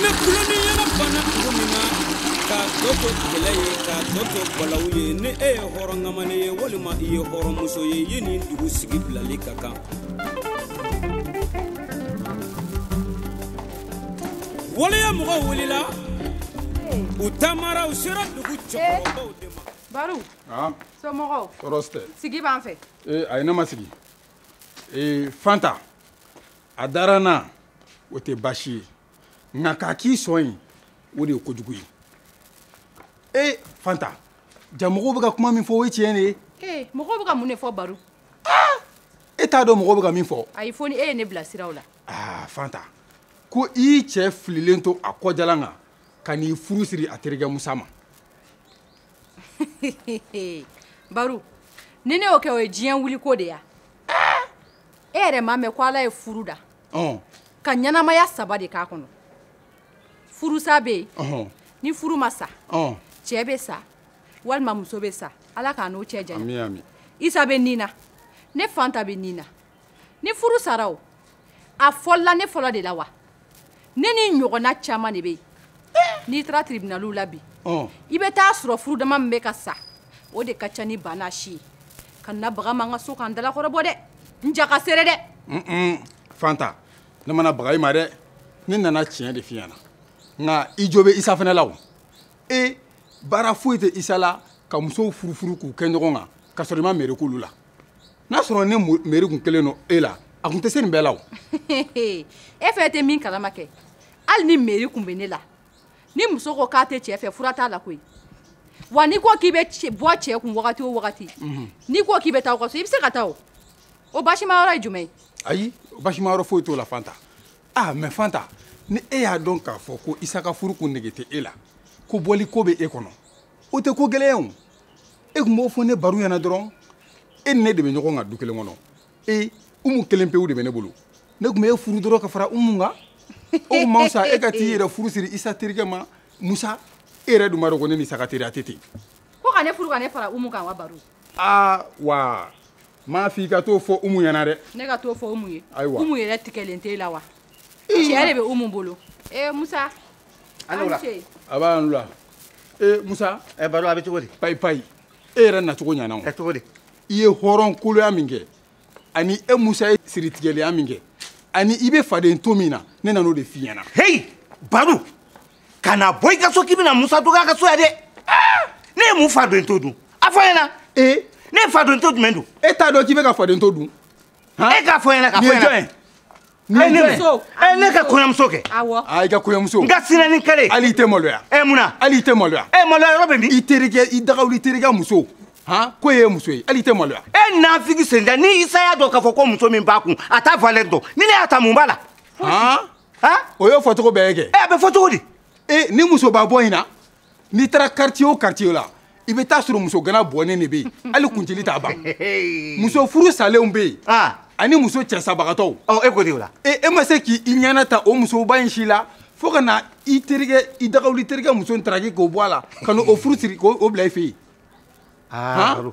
ni tulon ni yɛlɛ banna dugu min na ka tɔ to kɛlɛ ye ka tɔ to balawu ye ni e ye hɔrɔn kamalen ye walima i ye hɔrɔn muso ye i ye nin dugu sigi bilali ka kan waleya mɔgɔw wulila u taamara u sera dugu cɛkɔrɔbaw de ma baru somɔgɔw tɔɔrɔ tɛ sigi b'an fɛ ee ayi ne ma sigi ee fanta a dara n na o tɛ baasi ye nka k'a k'i sɔn ye o de ye kojugu ye ee fanta jaa mɔgɔw bɛ ka kuma min fɔ o ye tiɲɛ de ye ee mɔgɔw bɛ ka mun de fɔ baru e t'a dɔn mɔgɔw bɛ ka min fɔ ayi fo ni e ye ne bilasira o la aa fanta ko i y'i cɛ fililen to a kɔjalan kan ka n'i furu siri a terikɛ musa ma baru ni ne y'o kɛ o ye diɲɛ wuliko de ye wa e yɛrɛ m'a mɛn ko ala ye furu da ka ɲɛnamaya saba de k'a kɔnɔ furusa bɛ yen ni furu ma sa cɛ bɛ sa walima muso bɛ sa ala k'an n'o cɛ janya isa bɛ nin na ne fanta bɛ nin na ni furu sara o a fɔlɔla ne fɔlɔ de la wa ne ni ɲɔgɔnna caman de bɛ yen n'i taara tiribinaliw la bi i bɛ taa sɔrɔ furu dama min bɛ ka sa o de ka ca ni bana si ye kana baga n ma n ka so ka n dalakɔrɔbɔ dɛ n ja ka sere dɛ fanta ne ma na baga i ma dɛ ne nana tiɲɛ de f'i ɲɛna nka i jo bɛ isa fana la o e baara foyi tɛ isa la ka musow furufuru k'u kɛ ɲɔgɔn kan ka sɔrɔ i ma meri k'olu la n'a sɔrɔ ni meri kun kɛlen don e la a kun tɛ se nin bɛɛ la o e fɛ tɛ min kalama kɛ hali ni meri kun bɛ ne la ni muso ko k'a tɛ cɛ fɛ fura t'a la koyi wa n'i ko k'i bɛ bɔ cɛ kun wagati o wagati mhm. n'i ko k'i bɛ taa aw ka so i bɛ se ka taa o o baasima yɔrɔ ye jumɛn ye ayi baasima yɔrɔ foyi t'o la fanta ah mɛ fanta ni e y'a dɔn k'a fɔ ko isa ka furu kun nege tɛ e la ko bɔli ko bɛ e kɔnɔ o tɛ ko gɛlɛn ye o e tun b'o fɔ ne baru ɲɛna dɔrɔn e ni ne de bɛ ɲɔgɔn kan du kelen kɔnɔ e umu kelen pewu de bɛ ne bolo ne tun bɛ e furu dɔrɔn ka fara umu kan o tun man fisa e ka t'i yɛrɛ furu siri isa terikɛ ma musa e yɛrɛ dun b'a dɔn ko ne ni isa ka teriya tɛ ten. ko ka ne furu ka ne fara umu kan wa baru. aa wa n m'a f'i ka t'o fɔ umu ɲɛna dɛ. ne ka t'o fɔ umu ye. ayiwa umu yɛrɛ tigɛlen t'e la wa. tiɲɛ de bɛ umu bolo. ee musa. an ni wula a b'a an ni wula. ee musa ɛ eh, baru a bɛ cogo di payi payi e yɛrɛ nacogo ɲana o ɛ eh, cogo di i ye hɔrɔnkoloya min kɛ ani e musa ye siritigɛlenya min kɛ ani i bɛ faden to min na ne nan'o de f'i ɲɛna heyi baru kana bɔ i ka so k'i bɛna musa dɔgɔya a ka so yan dɛ ah! ne ye mun faden to dun a fɔ n ɲɛna ee ne ye faden to jumɛn dun e t'a dɔn k'i bɛ ka faden to dun e k'a fɔ ɲɛna k'a fɔ ɲɛna ne ne ka kɔɲɔmuso kɛ i ka kɔɲɔmuso n ka sinɛ ni kale hali i tɛ maloya ɛ mun na hali i tɛ maloya ɛ maloya yɔrɔ bɛ min i terikɛ i dagawuli terikɛ muso han k'o ye muso ye hali i tɛ maloya e nafigi senda ni isa y'a dɔn k'a fɔ ko muso min b'a kun a t'a valɛri dɔn ni ne y'a ta mun b'a la han o y'o fɔcogo bɛɛ ye kɛ ɛ a bɛ fɔ cogo di e ni musoba bɔ in na n'i taara quartier o quartier la i bɛ t'a sɔrɔ muso gana bɔnnen de bɛ yen hali kuncili t'a ban muso furusalenw bɛ yen ani muso cɛsabagatɔw e ko di o la e ma se k'i ɲɛna ta o musoba in si la fo ka na i terikɛ i dagawuli terikɛ muso in taraki k'o bɔ a la ka n'o furu siri k'o bila i fɛ yen.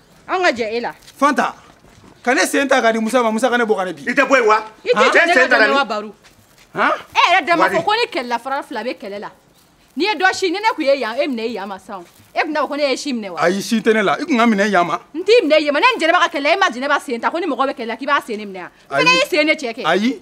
an ka jɛ e la fanta ka ne sen ta k'a di musa ma musa ka ne bɔ ka ne bin i tɛ bɔ yen wa i tɛ jɛ ne ka dɛmɛ wa baru e yɛrɛ da m'a fɔ ko ni kɛlɛla fara fila bɛ kɛlɛ la n'i ye dɔ si ni ne tun ye yan e minɛ e yan ma sisan e tun t'a fɔ ko ne y'e sin minɛ wa ayi sin tɛ ne la i tun ka n minɛ yan ma n t'i minɛ yan ma ne ni jɛnɛba ka kɛlɛ e ma jɛnɛba sen ta ko ni mɔgɔ bɛ kɛlɛ la k'i b'a sen ne minɛ an fana y'i sen ne cɛ kɛ ayi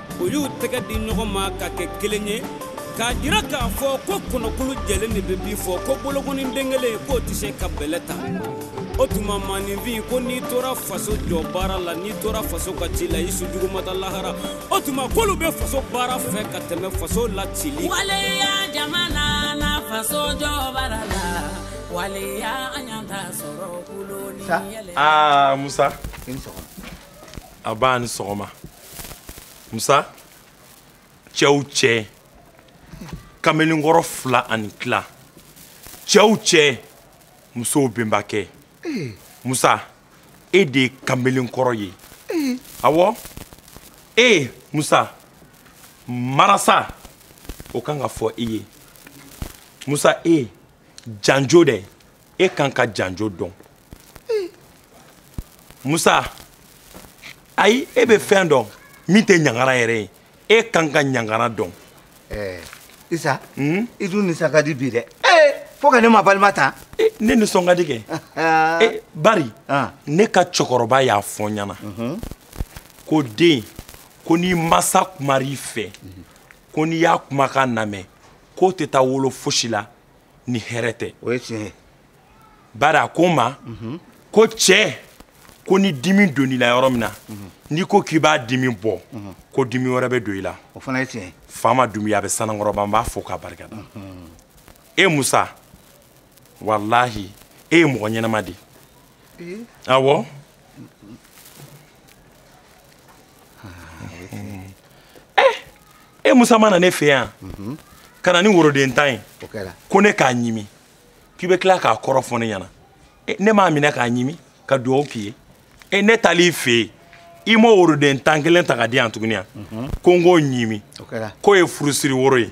u y'u tɛgɛ di ɲɔgɔn ma ka kɛ kelen ye k'a jira k'a fɔ ko kɔnɔkulu jɛlen de bɛ bi fɔ ko bolokoni den kelen k'o tɛ se ka bɛlɛ ta o tuma maaninfin ko n'i tora faso jɔ baara la n'i tora faso ka ci la i su jugu ma taa lahara o tuma k'olu bɛ faso baara fɛ ka tɛmɛ faso la cili waleya jamana na faso jɔ baara la waleya an y'an ta sɔrɔ kulo ni yɛlɛ. aa musa n ba a ni sɔgɔma musa cɛw cɛ kamelenkɔrɔ fila ani tila cɛw cɛ musow benbakɛ eh. musa e de ye kamelenkɔrɔ ye eh. awɔ e musa marasa o kan ka fɔ i ye musa e janjo dɛ e kan ka janjo dɔn musa ayi e bɛ fɛn dɔn min tɛ ɲangara yɛrɛ ye e kan ka ɲangara dɔn eh, isa hmm? i dun nisɔn ka di bi dɛ eh, fo ka ne mabalima ta eh, ne nisɔn ka di kɛ bari ah. ne ka cɛkɔrɔba y'a fɔ n ɲɛna mhm. ko den ko n'i masa kumara i fɛ ko n'i y'a kumakan lamɛn k'o tɛ taa wolo fosi la ni hɛrɛ tɛ o ye tiɲɛ ye bari a ko n ma mhm. ko cɛ ko ni dimi donn'i la yɔrɔ min na mhm. n'i ko k'i b'a dimi bɔ mhm. ko dimi wɛrɛ bɛ don i la o fana ye tiɲɛ ye faama dumuya bɛ sanankɔrɔba n b'a fo k'a barikada e musa walahi e ye mɔgɔ ɲɛnama de ye awɔ e musa ma na ne fɛ yan mhm. ka na ni woroden tan ye ko ne k'a ɲimi k'i bɛ tila k'a kɔrɔ fɔ ne ɲɛna e, ne m'a minɛ k'a ɲimi ka dugawu k'i ye e, ne taali fɛ yen i ma woroden tan kelen ta ka di yan tuguni yan mhm. ko n k'o ɲimi k'o ye furusiri woro ye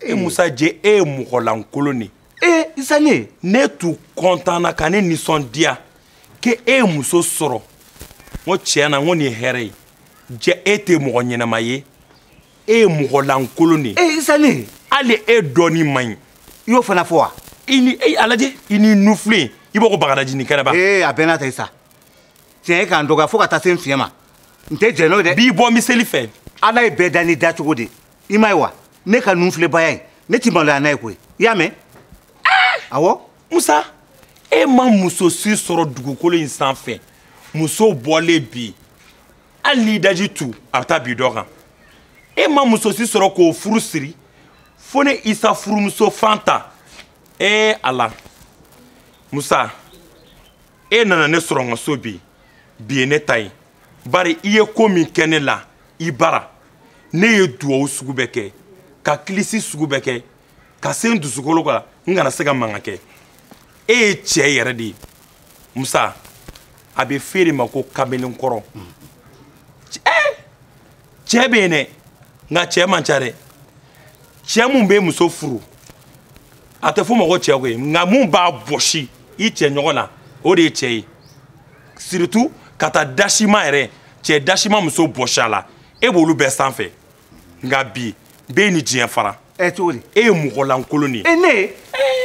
e musa je e ye mɔgɔlankolon de ee isa le ne tun kɔntanna ka ne nisɔndiya k'e ye muso sɔrɔ n ko tiɲɛ na n ko nin ye hɛrɛ ye jɛ e tɛ mɔgɔ ɲɛnama ye e ye mɔgɔlankolon de ye ee isa le hali e dɔnni man ɲi i y'o fana fɔ wa i ni e a lajɛ i n'i nunfilen i b'a ko bagadaji ni kɛnɛba ee a bɛɛ n'a ta isa tiɲɛ ye k'an dɔgɔya fo ka taa se n fiɲɛ ma n tɛ jɛn n'o ye dɛ b'i bɔ miseli fɛ ala ye bɛɛ da n'i dacogo de ye i m'a ye wa ne ka nunfilenbaya in ne ti maloya n'a ye koyi i y'a mɛn awɔ musa e ma muso si sɔrɔ dugukolo in sanfɛ muso bɔlen bi hali n'i daji tu a bɛ taa bin dɔ kan e ma muso si sɔrɔ k'o furu siri fo ne isa furumuso fanta ee ala musa e nana ne sɔrɔ n ka so bi bi ye ne ta ye bari i ye ko min kɛ ne la i bara ne ye duwawu sugu bɛɛ kɛ ka kilisi sugu bɛɛ kɛ ka se n dusukolo kan n kana se ka mankan kɛ e ye cɛ yɛrɛ de ye musa a bɛ f'e de ma ko kamalenkɔrɔ cɛ bɛ yen dɛ nka cɛ man ca dɛ cɛ mun bɛ muso furu a tɛ f'o ma ko cɛ koyi nka mun b'a bɔsi i cɛ ɲɔgɔn na o de ye cɛ ye surtout ka taa dasima yɛrɛ cɛ dasima muso bɔsi a la e b'olu bɛɛ sanfɛ nka bi b'e ni diɲɛ fara ɛ cogo di e ye mɔgɔlankolon de ye e ne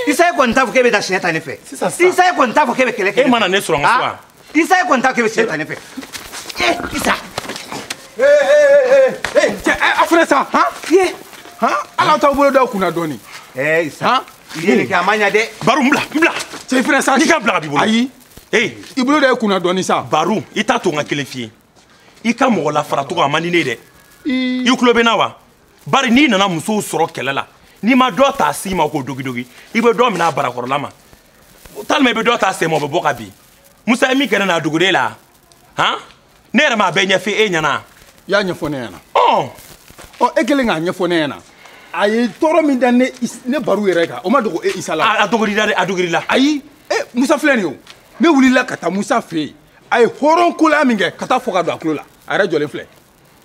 isa e kɔni t'a fɔ k'e bɛ taa siɲɛ ta ne fɛ isa e kɔni t'a fɔ k'e bɛ kɛlɛ kɛ e ma na ne sɔrɔ n ka so wa isa e kɔni t'a fɔ k'e bɛ siɲɛ ta ne fɛ ee isa cɛ a filɛ sa han ye han ala t'aw bolo da kunna dɔɔni ee isa i ye nin kɛ a ma ɲa dɛ baru n bila n bila cɛ i filɛ sa n'i ka bila a b'i bolo ayi ee i bolo da ye kunna dɔɔni sa baru i t'a to n ka kelen f'i ye i ka mɔgɔ lafaracogo a man di ne ye dɛ i tulo bɛ n na wa bari n'i nana musow sɔrɔ kɛlɛ la n'i ma dɔ ta a sin ma k'o dogidogi i bɛ dɔ minɛ a barakɔrɔla ma walima i bɛ dɔ ta a sen ma o bɛ bɔ ka bin musa ye min kɛ ne na a dogolen la han ne yɛrɛ m'a bɛɛ ɲɛfɔ e ɲɛna i y'a ɲɛfɔ ne ɲɛna ɔ ɔ e kɛlen k'a ɲɛfɔ ne ɲɛna a ye tɔɔrɔ min da ne Is- ne baru yɛrɛ kan o ma dogo e isa la a a dogor'i la dɛ a dogor'i la ayi e musa filɛ nin ye o ne wulila ka taa musa fɛ yen a ye hɔrɔn kolaya min kɛ ka taa fɔ ka don a tulo la a yɛrɛ jɔlen filɛ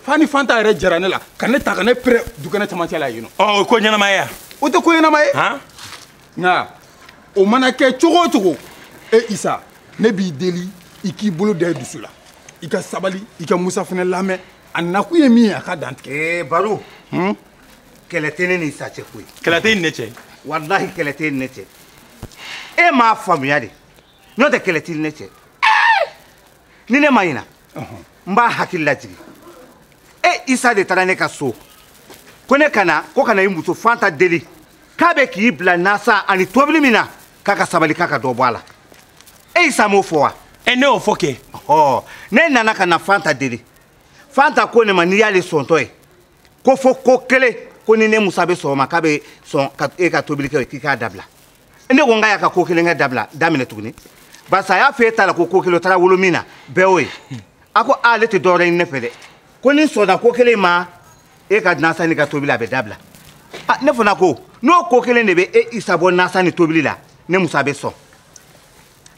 f'a ni fanta yɛrɛ jɛra ne la ka ne ta ka ne pɛrɛn dukɛnɛ camancɛ la yen nɔ ɔ o ko ɲɛnama ye o tɛ ko ɲɛnama ye nka o mana kɛ cogo o cogo e isa ne b'i deli i k'i bolo da i dusu la i ka sabali i ka musa fana lamɛn a nakun ye min ye a k'a dantigɛ ee baru hmm? kɛlɛ tɛ ne ni isa cɛ koyi kɛlɛ t'i ni ne cɛ walahi kɛlɛ t'i ni ne cɛ e m'a faamuya de n'o tɛ kɛlɛ t'i ni ne cɛ ni ne ma ɲina n b'a hakili lajigin e isa de taara ne ka so ko ne ka na ko ka na i muso fanta deli k'a bɛ k'i bila nasan ani tobili min na k'a ka sabali k'a ka dɔ bɔ a la e isa m'o fɔ wa e ne y'o fɔ kɛ ɔ ne nana ka na fanta deli fanta ko ne ma n'i y'ale sɔntɔ ye ko fo ko kelen ko ni ne musa bɛ sɔn o ma k'a bɛ sɔn ka e ka tobili kɛ k'i k'a dabila ne ko n k'a y'a ka ko kelen kɛ dabila daminɛ tuguni barisa a y'a fɔ e ta la ko ko kelen o taara wolo min na bɛɛ y'o ye a ko ale tɛ dɔwɛrɛ ɲini ne fɛ dɛ ko n'i sɔnna ko kelen ma e ka nasan n'i ka tobili a bɛ dabila ne fana ko n'o ko kelen de bɛ e isa bɔ nasan ni tobili la ne musa bɛ sɔn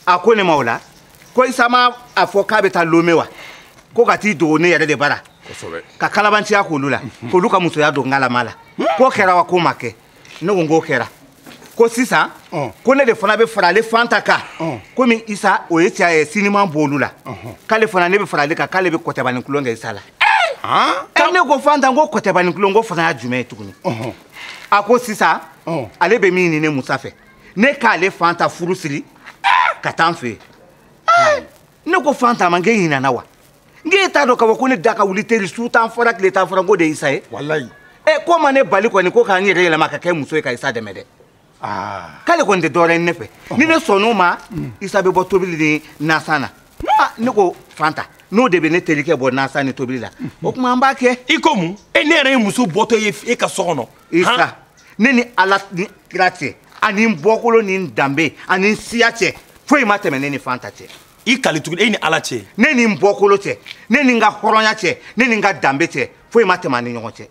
a ko ne ma o la ko isa ma a fɔ k'a bɛ taa lome wa ko ka t'i dogo ne yɛrɛ de bara ka kalabanciya k'olu la k'olu ka musoya don ngalama la k'o kɛra wa k'o ma kɛ ne ko n k'o kɛra ko sisan ko ne de fana bɛ fara ale fanta kan komi isa o ye cɛ ye siniman b'olu la k'ale fana ne bɛ fara ale kan k'ale bɛ kɔtɛbani kolon kɛ isa la ɛ ne ko fanta n ko kɔtɛbani kolon k'o fana y'a jumɛn ye tuguni a ko sisan ale bɛ min ɲini ne musa fɛ ne k'ale fanta furu siri ka taa n fɛ yen ne ko fanta ma n k'e ɲinana wa n k'e t'a dɔn k'a fɔ ko ne da ka wuli teri su tan fɔra tile tan fɔra n k'o de ye isa ye walayi ɛ eh, k'o ma ne bali kɔni ko ka n yɛrɛ yɛlɛma ka kɛ muso ye ka isa dɛmɛ dɛ ah. k'ale kɔni tɛ dɔwɛrɛ ɲini ne fɛ ni ne sɔnn'o ma mm. isa bɛ bɔ tobili ni nasan na ah, ne ko fanta n'o de bɛ ne terikɛ bɔ nasan ni tobili la mm. o tuma an b'a kɛ i ko mun e ne yɛrɛ ye muso bɔtɔ ye e ka so kɔnɔ isa ne ni ala ni kira cɛ ani n bɔkolo ni n danbe ani n siya cɛ foyi ma tɛmɛ ne ni fanta cɛ i kali tuguni e ni ala cɛ ne ni n bɔkolo cɛ ne ni n ka hɔrɔnya cɛ ne ni n ka danbe cɛ foyi ma tɛmɛ an ni ɲɔgɔn cɛ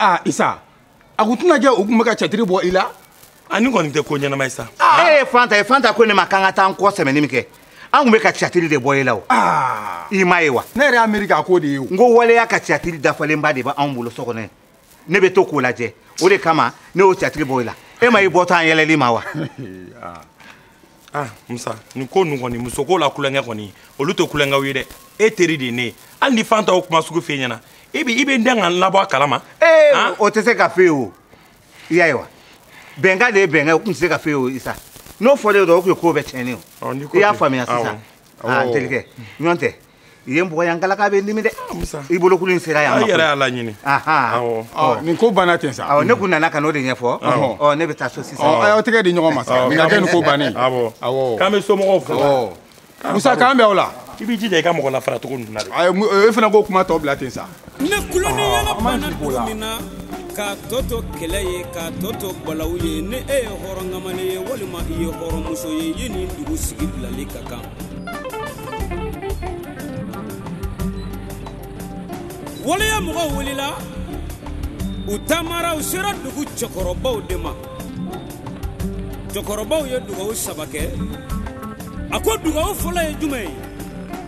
aa isa a kun tɛna kɛ u kun bɛ ka catiri bɔ i la a nin kɔni tɛ ko ɲɛnama ye sa e ye fanta ye fanta ko ne ma k'an ka taa an kɔ sɛmɛni min kɛ an kun bɛ ka catiri de bɔ i la o i m'a ye wa ne yɛrɛ y'a miiri k'a ko de ye o n ko walayi a ka catiri dafalenba de b'anw bolo so kɔnɔ ne bɛ to k'o lajɛ o de kama ne y'o cɛtigi bɔ i la e ma i bɔtɔ an yɛlɛli ma wa ah musa nin ko ninnu kɔni musoko la kulonkɛ kɔni olu tɛ kulonkɛw ye dɛ e teri de ye ne ye hali ni fanta o kuma sugu f'e ɲɛna i bɛ i bɛ n dɛn ka n labɔ a kalama. ee o tɛ se ka f'e ye o i y'a ye wa bɛnkan de ye bɛnkan ye o tun tɛ se ka f'e ye o isa n'o fɔlen don o tun ye ko bɛɛ tiɲɛnen ye o i y'a faamuya sisan aa n terikɛ ɲɔgɔn tɛ i ye n bugɔ yan galaka bɛ n dimi dɛ i bolokuru in sera yan yɛrɛ y'a laɲini nin ko banna ten sa ne kun nana ka n'o de ɲɛfɔ ɔ ne bɛ taa so sisan aw tɛgɛ di ɲɔgɔn ma sa nin ka kɛ nin ko bannen k'an bɛ somɔgɔw fo musa k'an bɛn wula i b'i jija i ka mɔgɔ lafara cogo ninnu na dɛ e fana k'o kuma tɔ bila ten sa ni tulon ni yɛlɛ banna dugu min na k'a tɔ to kɛlɛ ye k'a tɔ to balawu ye ni e ye hɔrɔnkamalen ye walima i ye hɔrɔnmuso ye e ni dugu sigi bilali ka kan waleya mɔgɔw wulila u taamara u sera dugu cɛkɔrɔbaw de ma cɛkɔrɔbaw ye dugawu saba kɛ a ko dugawu fɔlɔ ye jumɛn ye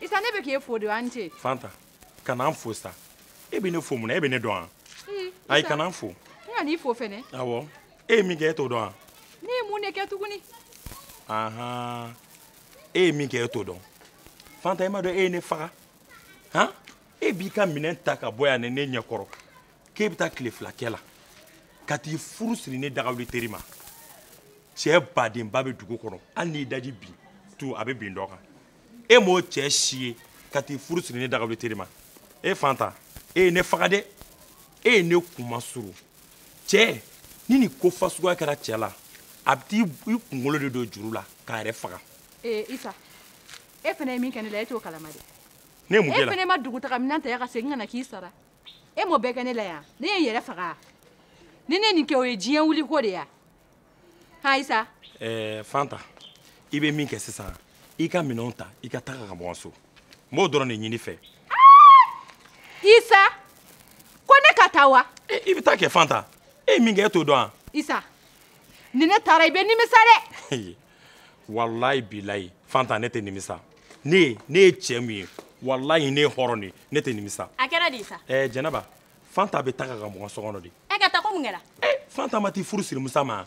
isa ne bɛ k'e fo de a ni ce fanta kana n fo sa e bɛ ne fo mun na e bɛ ne dɔn wa ayi kana n fo n kan'i fo fɛnɛ awɔ e ye min kɛ e t'o dɔn wa ne ye mun de kɛ tuguni ahan e ye min kɛ e t'o dɔn fanta e m'a dɔn e ye ne faga han e b'i ka minɛn ta ka bɔ yan ni ne ɲɛkɔrɔ k'e bɛ taa tile fila kɛ la ka t'i furu siri ne dagawuli teri ma cɛ badenba bɛ dugu kɔnɔ hali n'i daji bin tu a bɛ bin dɔ kan e m'o cɛ si ye ka t'i furu siri ne dagawuli teri ma e fanta e ye ne faga dɛ e ye ne kunmasuuru cɛ ni nin ko fasuguya kɛra cɛ la a bɛ t'i kunkolo de don juru la k'a yɛrɛ faga. ee isa e fana ye min kɛ ne la e t'o kalama dɛ. ne ye mun k'e la e fana ma dugutaga minɛn ta yan ka segin ka na k'i sara e m'o bɛɛ kɛ ne la yan ne ye n yɛrɛ faga ni ne nin kɛ o ye diɲɛ wuli ko de ya ha isa ɛɛ fanta i bɛ min kɛ sisan i ka minɛnw ta i ka taga ka bɔ n so n b'o dɔrɔn de ɲin'i fɛ isa ko ne ka taa wa i bɛ taa kɛ fanta e ye min kɛ e t'o dɔn wa isa ni ne taara i bɛ nimisa dɛ walayi bilayi fanta ne tɛ nimisa ne ye ne ye cɛ min ye walayi ne ye hɔrɔn de ye ne tɛ nimisa a kɛra di isa ɛɛ jɛnɛba fanta bɛ taga ka bɔ n ka so kɔnɔ de e ka taa ko mun kɛra ee fanta ma t'i furu siri musa ma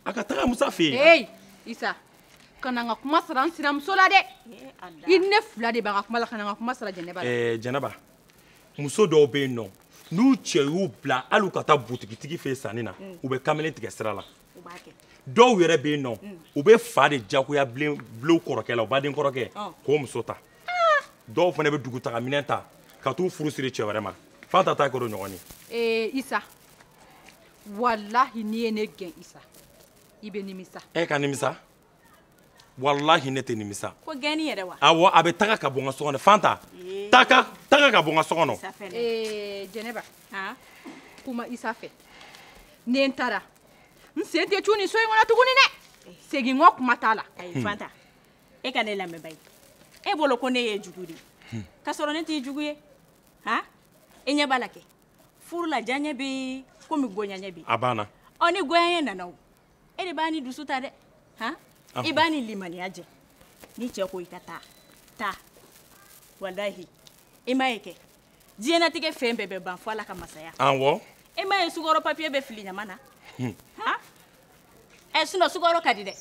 a ka taga musa fɛ yen ee isa kana n ka kuma sara n sinamuso la dɛ i ne fila de b'an ka kuma la kana n ka kuma sara jɛnɛba la ɛɛ jɛnɛba muso dɔw bɛ yen nɔ n'u cɛ y'u bila hali u ka taa butigitigi fɛ yen sanni na u bɛ kamalen tigɛ sira la dɔw yɛrɛ bɛ yen n'olu bɛ fa de diyagoya bila u kɔrɔkɛ la u baden kɔrɔkɛ k'o muso ta dɔw fana bɛ dugutagaminɛn ta ka t'u furu siri cɛ wɛrɛ ma fanta ta kɛra o ɲɔgɔn ye. ee isa walahi n'i ye ne gɛn isa i bɛ nimisa. e ka nimisa. walahi ne tɛ nimisa ko gɛnni yɛrɛ wa awɔ a bɛ taga ka bɔ n ka so kɔnɔ fanta eh. taga ka bɔ n ka so kɔnɔ eh, jɛnɛba kuma isa fɛ ni n taara n sen tɛ cun nin so in kɔnɔ tuguni dɛ eh. segin kɔ kuma t'a la ayi hmm. fanta e ka ne lamɛn bayi e bolo ko ne ye jugu de ye hmm. k'a sɔrɔ ne t'i jugu ye han i ɲɛ b'a la kɛ furu la diyaɲɛ bɛ yen komi goyaɲɛ bɛ yen a banna ɔ ni goyaɲɛ nana o e de b'a ni dusu ta dɛ han i b'a ni limaniya jɛ ni cɛ ko i ka taa taa walahi i m'a ye kɛ diɲɛnatigɛ fɛn bɛɛ bɛ ban fo ala ka masaya awɔ i m'a ye sukɔrɔ papiye bɛ fili ɲama na han ɛ eh, sinon sukɔrɔ ka di dɛ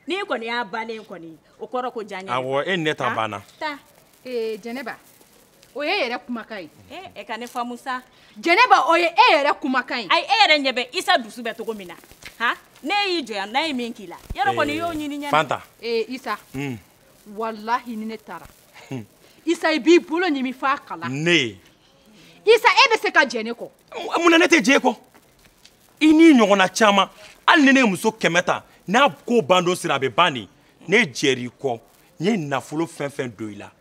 n'i kɔni y'a bannen kɔni o kɔrɔ ko diyaɲɛ awɔ e ni ne ta banna taa ee eh, jɛnɛba o y'e yɛrɛ kumakan ye eh, e ka ne faamu sa jɛnɛba o ye e yɛrɛ kumakan ye ayi e yɛrɛ ɲɛ bɛ isa dusu bɛ cogo min na han ne y'i jɔya n'a ye min k'i la yɔrɔ kɔni y'o ɲini ɲɛ fanta ee eh, isa hmm. walahi ni ne taara hmm. isa i b'i bolo ɲimi f'a kala ne isa e bɛ se ka jɛ ne kɔ mun na ne tɛ jɛ e kɔ i n'i ɲɔgɔnna caman hali ni ne ye muso kɛmɛ ta n'a ko ban don sera a bɛ ban de ne jɛr'i kɔ n ye nafolo fɛn fɛn don i la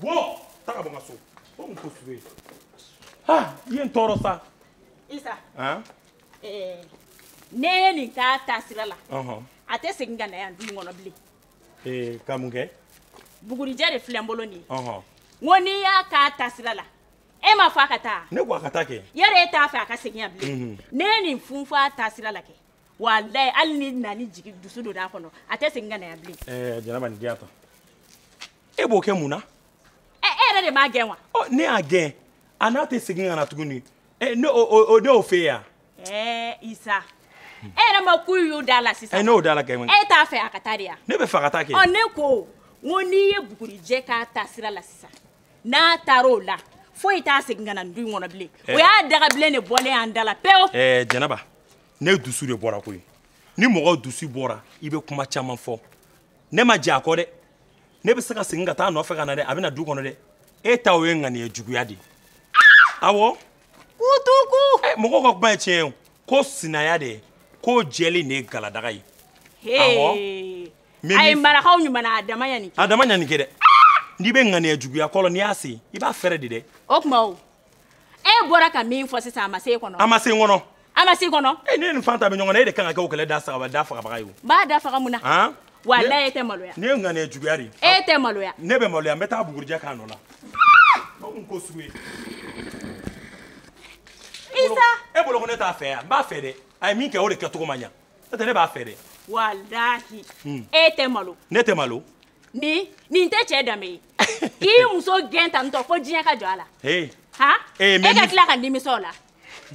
wo taa ka bɔ n ka so o mun ko sugu ha i ye n tɔɔrɔ sa isa eh, n'e ye nin k'a taasira la a tɛ segin ka na yan du in kɔnɔ bilen eh, ka mun kɛ bugurijɛ de filɛ n bolo nin ye n ko n'i y'a k'a taasira la e ma fɔ a ka taa ne ko a ka taa kɛ yɛrɛ e t'a fɛ a ka segin yan bilen mhm. n'e ye nin funfun a taasira la kɛ walayi hali ni nani jigi dusu donna a kɔnɔ a tɛ segin ka na yan bilen eh, jɛnɛba nin diya ta e b'o kɛ mun na ɛ e yɛrɛ de m'a gɛn wa ɔ ne y'a gɛn a n'a tɛ segin ka na tuguni ɛ ne o ne y'o fɛ yan ɛɛ isa e yɛrɛ mako y'o da la sisan ɛ n'o da la kɛ e t'a fɛ a ka taa de yan ne b'a fɛ a ka taa kɛ ɔ ne ko n ko n'i ye bugurijɛ k'a taasira la sisan n'a taara o la foyi t'a segin ka na du in kɔnɔ bilen o y'a dagabilen de bɔlen y'an da la pewu ɛɛ jɛnɛba ne dusu de bɔra koyi ni mɔgɔ dusu bɔra i bɛ kuma caman fɔ ne ma jɛ a kɔ dɛ ne bɛ se ka segin ka taa a nɔfɛ ka na dɛ a bɛ na du kɔnɔ dɛ e ta o ye ŋaniya juguya de ye awɔ kutuku eh, mɔgɔw ka kuma ye tiɲɛ ye ko sinaya de ko jɛlen de ye galadaga ye awɔ a ye marakaw ɲumanna a dama ɲani kɛ a dama ɲani kɛ dɛ n'i bɛ ŋaniya juguya kɔlɔn n'i y'a sen i b'a fɛrɛ de dɛ o tuma o e bɔra ka min fɔ sisan a ma se e kɔnɔ a ma se n kɔnɔ a ma se kɔnɔ e ne ni fanta bɛ ɲɔgɔn na e de kan ka kɛ o kɛlɛ da fagaba da fagabaga ye n b'a da faga mun na han walayi e tɛ maloya ne ŋana ye juguya de e tɛ maloya ne bɛ maloya n bɛ taa bugurijɛ k'a nɔ la n ko sugu ye isa e bolo ko ne t'a fɛ yan n b'a fɛ dɛ a ye min kɛ o de kɛcogo ma ɲa n'o tɛ ne b'a fɛ dɛ walayi e tɛ malo ne tɛ malo nin nin tɛ cɛ danbe ye k'i muso gɛn tantɔ fo diɲɛ ka jɔ a la han e ka tila ka nimisa o la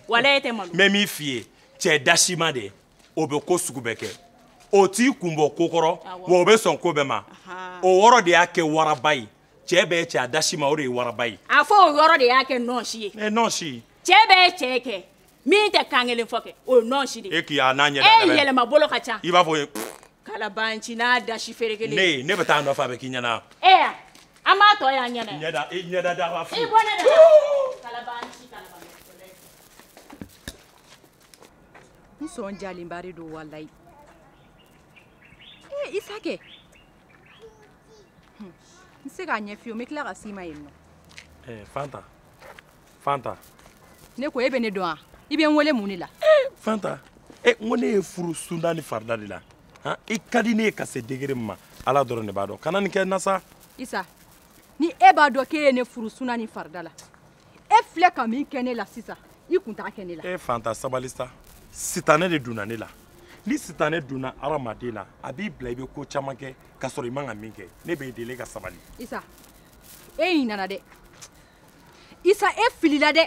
walayi e tɛ malo n bɛ min f'i ye cɛ dasima de o bɛ ko sugu bɛɛ kɛ o t'i kun bɔ ko kɔrɔ wa o bɛ sɔn ko bɛɛ ma o yɔrɔ de y'a kɛ waraba ye cɛ bɛɛ cɛ a dasima o de ye waraba ye a fɔ o yɔrɔ de y'a kɛ nɔɔsi ye ɛ nɔɔsi cɛ bɛɛ cɛ kɛ min tɛ kan kelen fɔ kɛ o ye nɔɔsi de ye e k'i y'a n'a ɲɛ da e yɛlɛma bolo ka ca i b'a fɔ kalabanci n'a dasi ferekelen ne bɛ taa nɔ f'a bɛ k'i ɲɛna e ya an b'a tɔ y'an ɲɛna ɲɛda i ɲɛda da b'a fɔ i bɔ ne da kalabanci n sɔn jalenba de don walayi ee eh, isa kɛ n se k'a ɲɛ fiyewu n bɛ tila ka s'i ma yen nɔ eh, fanta fanta ne ko e bɛ ne dɔn wa i bɛ n wele mun de la eh, fanta e eh, n ko ne ye furu sunda ni farida de la han i ka di ne ye ka se degré min ma ala dɔrɔn de b'a dɔn kana nin kɛ na sa isa ni e b'a dɔn k'e ye ne furu sunda ni farida la e filɛ ka min kɛ ne la sisan i kun t'a kɛ ne la e eh, fanta sabali sa sitanɛ de donna ne la ni sitanɛ donna hadamaden na a b'i bila i bɛ ko caman kɛ k'a sɔrɔ i man ka min kɛ ne b'i deli i ka sabali isa e ɲinana dɛ isa e filila dɛ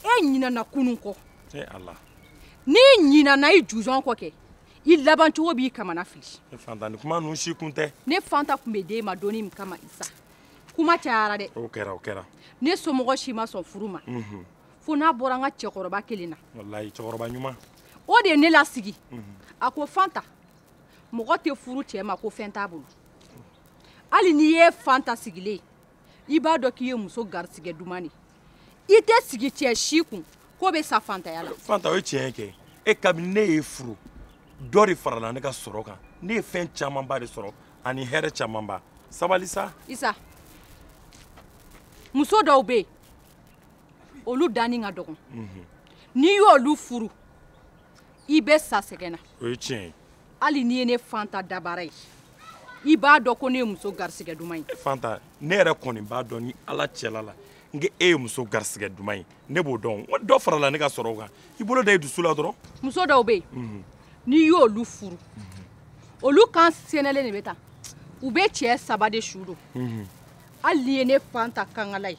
e ɲinana kunun kɔ n'i ɲinana i juzɔn kɔ kɛ i laban cogo b'i kamana fili ne fanta ni kuma ninnu si kun tɛ ne fanta kun bɛ den ma donni min kama isa kuma cayara dɛ o kɛra o kɛra ne somɔgɔ si ma sɔn furu ma mhm. fo n'a bɔra n ka cɛkɔrɔba kelen na walayi cɛkɔrɔba ɲuman o de ye ne lasigi mhm. a ko fanta mɔgɔ tɛ furu cɛ ma ko fɛn t'a bolo hali n'i ye fanta sigilen i b'a dɔn k'i ye muso garisɛgɛ duman ye i tɛ sigi cɛ si kun k'o bɛ sa fantaya la fanta o ye tiɲɛ ye kɛ e kabini ne y'e furu dɔ de farala ne ka sɔrɔ kan ne ye fɛn camanba de sɔrɔ ani hɛrɛ camanba sabali sa isa muso dɔw bɛ yen olu danni ka dɔgɔn mhm. n'i y'olu furu i bɛ sa sɛgɛn na o ye tiɲɛ ye hali n'i ye ne fanta dabara ye i b'a dɔn ko ne ye muso garisigɛ duman ye fanta ne yɛrɛ kɔni b'a dɔn ni ala cɛla la n ko e ye muso garisigɛ duman ye ne b'o dɔn n ko dɔ farala ne ka sɔrɔ kan i bolo da i dusu la dɔrɔn muso dɔw bɛ yen mhm. n'i y'olu furu mhm. olu kan sɛnɛlen de bɛ taa u bɛ cɛ saba de su don mhm. hali n'i ye ne fanta kankala ye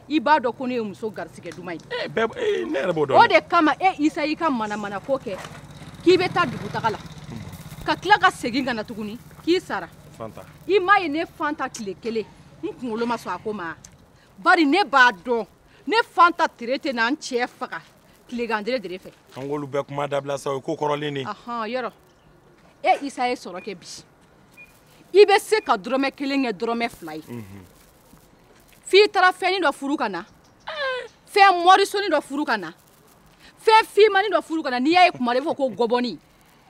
i b'a dɔn ko ne ye muso garisigɛ duman ye eh, eh, ne yɛrɛ b'o dɔn o de kama e isa y'i ka manamana ko kɛ k'i bɛ taa dugutaga la ka tila ka segin ka na tuguni k'i sara i m'a ye ne fanta tile kelen n kunkolo ma sɔn a ko ma bari ne b'a dɔn ne fanta tere tɛ na n cɛ faga tilegan dere dere fɛ an k'olu bɛɛ kuma dabila sa o ye ko kɔrɔlen de yɔrɔ e isa ye sɔrɔ kɛ bi i bɛ se ka dɔrɔmɛ kelen kɛ dɔrɔmɛ fila ye mhm. f'i taara fɛnnin dɔ furu ka na fɛn mɔrisoni dɔ furu ka na fɛn fimani dɔ furu ka na n'i y'a ye kuma la i b'a fɔ ko gɔbɔni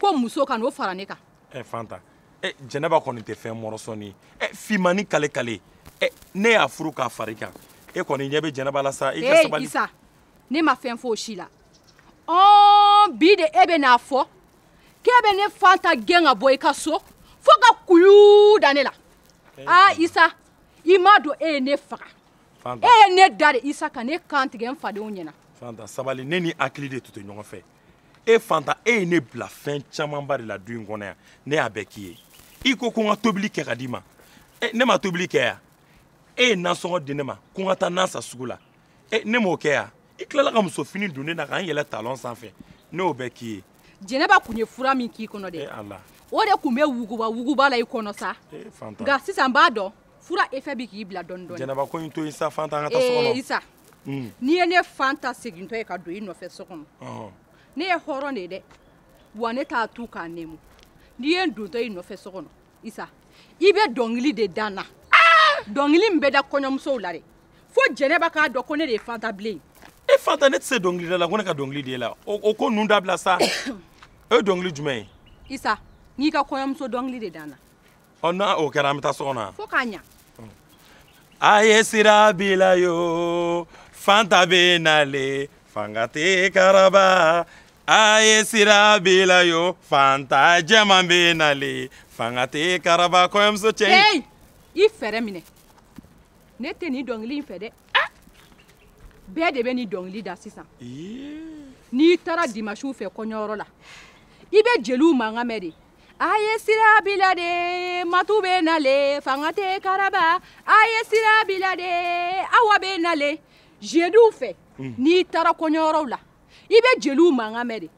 ko muso ka n'o fara ne kan. ɛ fanta ɛ jɛnɛba kɔni tɛ fɛn mɔrɔsɔni ye fimani kale kale ɛ ne y'a furu k'a fari kan e kɔni ɲɛ bɛ jɛnɛba la sa i ka sabali. ee isa ne ma fɛn fɔ o si la ɔɔ bi de e bɛ n'a fɔ k'e bɛ ne fanta gɛn ka bɔ i ka so fo ka kuyuu da ne la. aa isa i m'a dɔn e ye ne faga e ye ne da de isa ka ne kan tigɛ n fadenw ɲɛna fanta sabali ne ni hakili de tun tɛ ɲɔgɔn fɛ e fanta e ye ne bila fɛn camanba de la du in kɔnɔ yan ne y'a bɛɛ k'i ye i ko ko n ka tobili kɛ ka d'i ma ne ma tobili kɛ yan e ye nasɔngɔ di ne ma ko n ka taa nan san sugu la ne m'o kɛ yan i tilala ka muso fini don ne na ka n yɛlɛ talɔn sanfɛ ne y'o bɛɛ k'i ye jɛnɛba kun ye fura min k'i kɔnɔ dɛ o de kun bɛ wuguba wuguba la i kɔnɔ sa nka sisan n b'a dɔn fura efɛ bi k'i bila dɔɔni dɔɔni jɛnɛba ko in to yen sa fanta an ka taa so kɔnɔ isa mm. n'i ye ne fanta segintɔ ye ka don i nɔfɛ so kɔnɔ ne ye hɔrɔn de ye dɛ wa ne t'a tu k'a nɛmu n'i ye n dontɔ i nɔfɛ so kɔnɔ isa i bɛ dɔnkili de da n na dɔnkili min bɛ da kɔɲɔmusow la dɛ fo jɛnɛba k'a dɔn ko ne de ye fanta bilen e fanta ne tɛ se dɔnkilida la ko ne ka dɔnkili de la o ko ninnu dabila sa o ye dɔnkili jumɛn ye isa n'i ka kɔɲɔmuso dɔnkili de da n na ɔ n'o kɛra an bɛ taa so kɔnɔ yan fo k'a ɲa a ye sira bila yo fanta bɛ nale fanga tɛ karaba a ye sira bila yo fanta jɛman bɛ nale fanga tɛ karaba kɔɲɔmuso cɛ hey! i fɛɛrɛ minɛ ne tɛ nin dɔnkili in fɛ dɛ ah! bɛɛ de bɛ nin dɔnkili da sisan n'i taara dimasiw fɛ kɔɲɔyɔrɔ la i bɛ jeliw mankan mɛn de a ye sira bila de matu bɛ nale fanga tɛ karaba a ye sira bila de awa bɛ nale jeliw fɛ hmm. n'i taara kɔɲɔyɔrɔw la i bɛ jeliw mankan mɛn de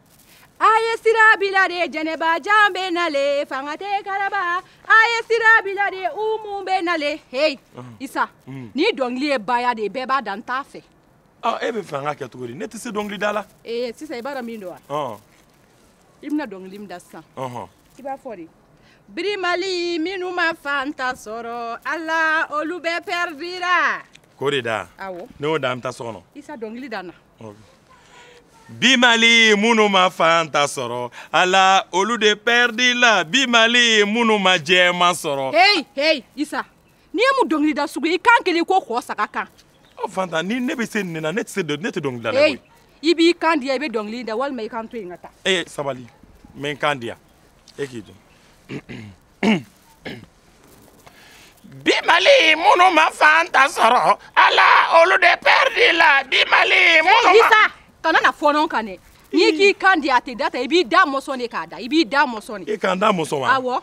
a ye sira bila de jɛnɛba jan bɛ nale fanga tɛ karaba a ye sira bila de umu bɛ nale hey hmm. isa hmm. nin dɔnkili ye baya de bɛɛ b'a da n t'a fɛ ah, e b'a fɛ an k'a kɛ cogo di ne tɛ se dɔnkilida la ee eh, sisan i b'a dɔn min don wa i bɛna dɔnkili min da sisan i b'a fɔ de birimali minnu ma fanta sɔrɔ ala olu bɛɛ pɛridira k'o de da awɔ n'e y'o da an bɛ taa so kɔnɔ isa dɔnkili da n na bi mali minnu ma fanta sɔrɔ ala olu de pɛridila bi mali minnu ma jɛman sɔrɔ heyi heyi isa nin ye mun dɔnkilida sugu ye i kan kɛlen ko kɔ saga kan ɔ fanta ni ne bɛ se nin na ne tɛ se dɔ- ne tɛ dɔnkilidala koyi i b'i kan diya i bɛ dɔnkili da walima i k'an to yen ka taa e ye sabali n bɛ n kan diya e k'i jɔ bi mali minnu ma fanta sɔrɔ ala olu de pɛridila bi mali minnu ma isa kana na fɔɔnɔ n kan dɛ n'i k'i kan diya a tɛ da tan i b'i da mɔsɔn de k'a da i b'i da mɔsɔn de e ka n da mɔsɔn wa awɔ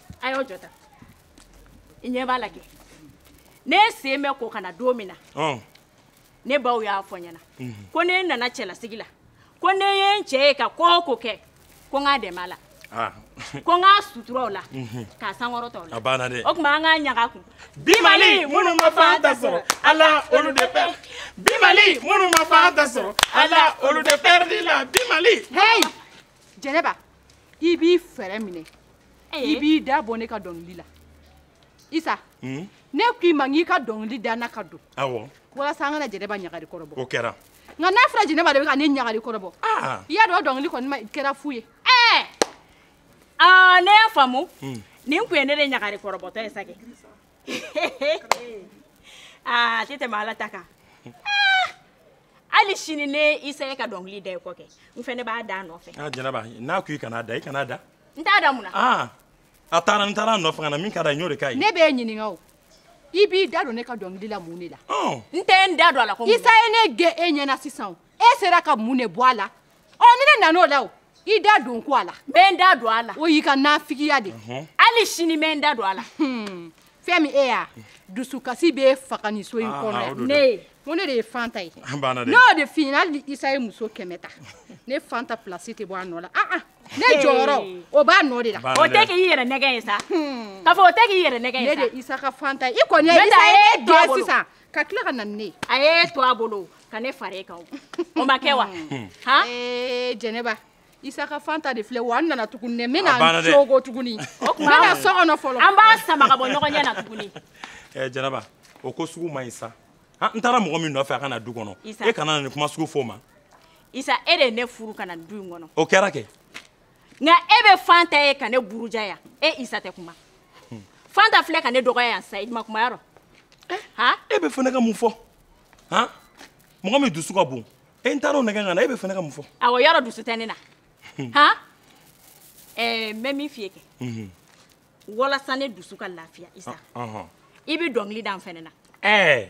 a y'aw jɔ tan i ɲɛ b'a la kɛ ne sen bɛ ko ka na don min na ne baw y'a fɔ n ɲɛna mhm. ko ne nana cɛlasigi la ko ne ye n cɛ ye ka ko o ko kɛ ko n k'a dɛmɛ a la ah. ko n k'a sutura o la mhm. k'a sankɔrɔta o la o tuma an k'a ɲaga kun bi mali minnu ma fanta sɔrɔ ala olu de pɛridi bi mali minnu ma fanta sɔrɔ ala olu de pɛridila bi mali. hey jɛnɛba. i b'i fɛɛrɛ minɛ i b'i da bɔ ne ka dɔnkili la isa hmm? ne ko i ma n k'i ka dɔnkili da n na ka don awɔ walasa an ka na jɛnɛba ɲagari kɔrɔ bɔ o kɛra nka n'a fɔra jɛnɛba de bɛ ka ne ɲagari kɔrɔ bɔ ah. i y'a dɔn dɔnkili kɔni kɛra fu ye ɛɛ ah, ne y'a faamu hmm. nin tun ye ne de ɲagari kɔrɔbɔtɔ ye sa kɛ aa ah, a tɛ tɛmɛ ala ta kan hali sini ne isa ye ka dɔnkili da i kɔ kɛ n fɛnɛ b'a da a nɔfɛ ah, jɛnɛba n'a ko i kan'a da i kan'a da n t'a da mun na ah, a taara n taara a nɔfɛ ka na min ka da n y'o de k'a ye ne b'e ɲininka o i b'i da don ne ka dɔnkili la mun de la oh. n tɛ n da don a la ko isa ye ne gɛn e ɲɛna sisan e sera ka mun de bɔ a la ɔ ni ne nan'o la o i da don ko a la n bɛ n da don a la o y'i ka nafigiya de hali sini n bɛ n da don a la hmm. fɛn min e y'a dusukasi b'e faga nin so in ah, kɔnɔ yan ne ye ko ne de ye fanta ye n y'o de f'i ɲɛna hali ni isa ye muso kɛmɛ ta ne fanta pilasi tɛ bɔ a nɔ la ah, ah. ne jɔyɔrɔ o b'a nɔ de la o tɛ k'i yɛrɛ nɛgɛn ye sa hmm. k'a fɔ o tɛ k'i yɛrɛ nɛgɛn ye sa ne de ye isa ka fanta ye i kɔni ye isa ye dɔ sisan ka tila ka na ni ne ye a y'e to a bolo ka ne fara e kan o ma kɛ wa hmm. han ee eh, jɛnɛba isa ka fanta de filɛ wa n nana tuguni dɛ n bɛna n cogo tuguni o tuma n bɛna so kɔnɔ fɔlɔ an b'a sama ka bɔ ɲɔgɔn ɲɛ na tuguni ɛɛ eh, jɛnɛba o ko sugu man ɲi sa han n taara mɔgɔ min nɔfɛ a ka na du kɔnɔ e kana na nin kuma sugu fɔ o ma isa e de ye ne furu ka na du in kɔnɔ o kɛra kɛ nka e bɛ fanta ye ka ne buruja yan e isa tɛ kuma fanta filɛ ka ne dɔgɔya yan sa i ma kuma yɔrɔ han e b'a fɛ ne ka mun fɔ han mɔgɔ min dusu ka bon e n taara o nɛgɛn ka na e b'a fɛ ne ka mun fɔ awɔ yɔrɔ dusu tɛ ne na han ɛɛ n bɛ min f'i ye kɛ walasa ne dusu ka lafiya isa i bɛ dɔnkili da n fɛnɛ na ɛɛ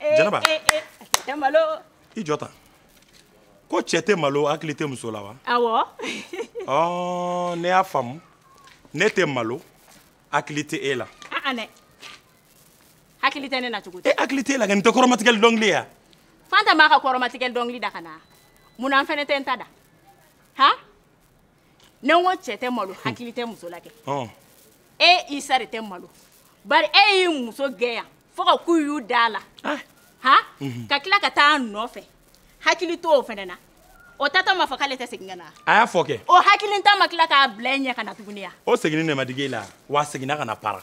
eh, jɛnɛba eh, cɛ tɛ malo i jɔ tan ko cɛ tɛ malo hakili tɛ muso la wa awɔ ɔ ne y'a faamu ne tɛ malo hakili tɛ e la aa dɛ hakili tɛ ne na cogo di hakili tɛ e la kɛ nin tɛ kɔrɔmatigɛli dɔnkili ye wa fanta m'a ka kɔrɔmatigɛli dɔnkili da ka na mun na n fɛnɛ tɛ n ta da han ne ko cɛ tɛ malo hmm. hakili tɛ muso la kɛ oh. e isa de tɛ malo bari e y'i muso gɛn yan fo ka k'u y'u da la ah. ha mhm. ka tila ka taa nɔfɛ hakili t'o fɛnɛ na o taatɔ ma fɔ k'ale tɛ segin ka na a y'a fɔ kɛ o hakilintan ma tila k'a bila i ɲɛ ka na tuguni ya o seginni ne ma digi e la wa seginna ka na para